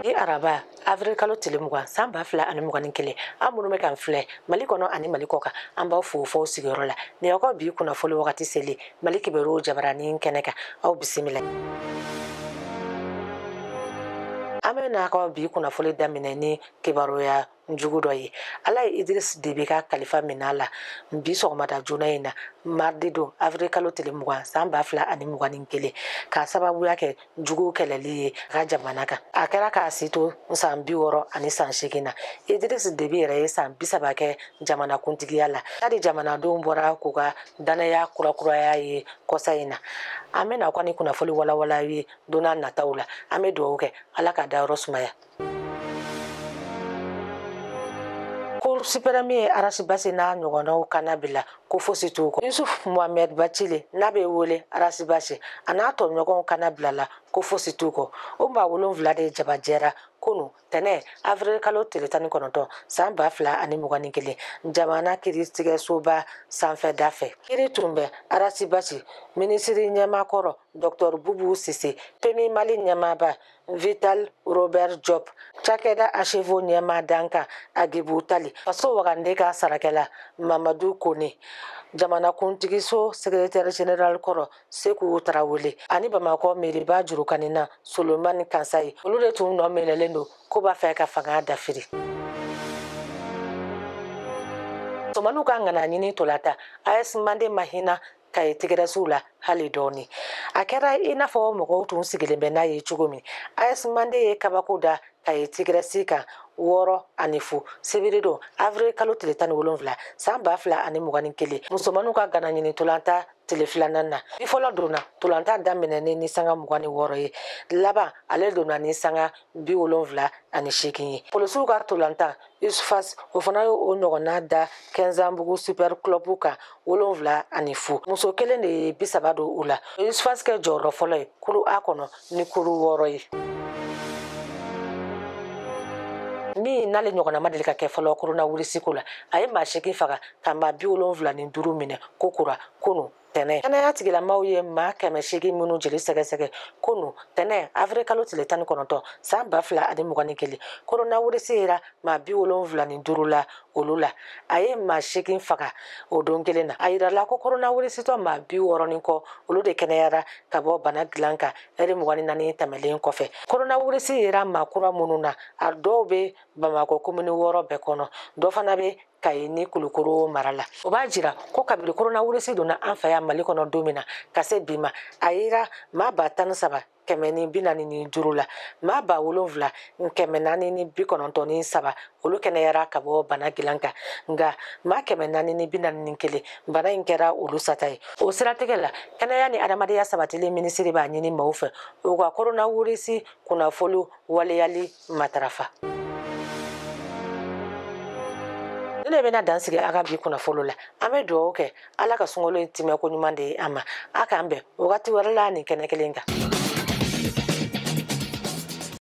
bi araba avril kalo tile mugan san ba fila ani mugan ni kelen aw minnu bɛ k'an filɛ mali kɔnɔ ani mali kɔ kan an b'aw fo f'aw sigiyɔrɔ la nin aw ka bi kunnafoli wagati seli mali kibaruw jabaranin kɛnɛ kan aw bisimila an bɛ n'a ka bi kunnafoli daminɛ ni kibaruya jugu dɔ ye ala ye idris debi ka kalifa min'a la bi sɔgɔmada joona in na mardi don avril kalo tile mugan san ba fila ani mugan ni kelen k'a sababuya kɛ juguw kɛlɛli ye a ka jamana kan a kɛra k'a si to san bi wɔɔrɔ ani san seegin na idris debi yɛrɛ ye san bisaba kɛ jamana kuntigiya la hali jamanadenw bɔra k'u ka dannaya kurakuraya a ye kɔsa in na an bɛna aw ka ni kunnafoli walawala ye don nataw la an bɛ dugawu kɛ ala k'a dayɔrɔ sumaya cour suprême ye arasibasi n'a ɲɔgɔnnaw kannabila ko fosi t'u kɔ yusuf mohamɛd bacile n'a bɛ wele arasibasi a n'a tɔɲɔgɔnw kannabilala ko fosi t'u kɔ o maa wolonfila de jabajɛra kunu tɛnɛ avril kalo tile tan ni kɔnɔntɔn san ba fila ani mugan ni kelen jamana kiritigɛsoba sanfɛda fɛ kiri tun bɛ arasibasi minisiriɲɛmaa kɔrɔ dɔktɔr bubu sise pemu mali ɲɛmaaba vital robert job cakɛda agefau ɲɛmaa dankan agibu tali faso wagande ka sarakɛla mamadu kone jamanakuntigiso sekretɛri general kɔrɔ seku tarawele ani bamakɔ meriba jurukanina solomani kansayi olu de tun nɔ minɛlen don k'u b'a fɛ ka fanga dafiri musomanninw ka ŋana ɲini ntolatan as mande ma hinɛ kayi tigɛrɛsiw la hali dɔɔni a kɛra i n'a fɔ mɔgɔw tun sigilen bɛ n'a ye cogo min as mande ye kabako da kayi tigɛrɛsi kan wɔɔrɔ ani fu sibiri don avril kalo tile tan ni wolonwula san ba fila ani mugan ni kelen musomanninw ka ŋana ɲini ntolatan tile filanan na bi fɔlɔ donna ntolatan daminɛnen ni sanga mugan ni wɔɔrɔ ye laban ale donna ni sanga bi wolonwula ani seegin ye polisiw ka ntolatan usfas o fana y'o ɲɔgɔnna da kɛnsanbugu super club kan wolonwula ani fu muso kelen de ye bi saba don u la usfas kɛ jɔyɔrɔ fɔlɔ ye kulu a kɔnɔ ni kuru wɔɔrɔ ye min n'ale ɲɔgɔnna ma deli ka kɛ fɔlɔ koronawirisi ko la a ye maa seegin faga ka maa bi wolonwula ni duuru minɛ kokura kunu tɛnɛ kɛnɛya tigilamaaw ye maa kɛmɛ seegin minnu jeli sɛgɛsɛgɛ kunu tɛnɛ avril kalo tile tan ni kɔnɔntɔn san ba fila ani mugan ni kelen koronawirisi yera maa bi wolonwula ni duuru la olu la a ye maa seegin faga o don kelen na a yirala ko koronawirisitɔ maa bi wɔɔrɔ ni kɔ olu de kɛnɛyara ka bɔ bana dilan kan ɛri mugan ni naani tɛmɛlen kɔfɛ koronawirisi yera maa kura minnu na a dɔw bɛ bamakɔ komini wɔɔrɔ bɛɛ kɔnɔ dɔ fana bɛ kayi ni kulukoro mara la o b'a jira ko kabiri koronawirisi donna an fɛ yan mali kɔnɔ don min na ka se bi ma a yera maa ba tan ni saba kɛmɛ ni bi naani ni duuru la maa ba wolonfila kɛmɛ naani ni bi kɔnɔntɔn ni saba olu kɛnɛyara ka bɔ bana gilan kan nka maa kɛmɛ naani ni bi naani ni kelen bana in kɛra olu sata ye o siratigɛ la kɛnɛya ni adamadenya sabatili minisiri b'a ɲini maaw fɛ u ka koronawirisi kunnafoni waleyali matarafa nin de bɛna dan sigi an ka bi kunnafoni la an bɛ dugawu kɛ ala ka sunkalo in timɛ ko ɲuman di an ma a k'an bɛn wagati wɛrɛ la nin kɛnɛ kelen kan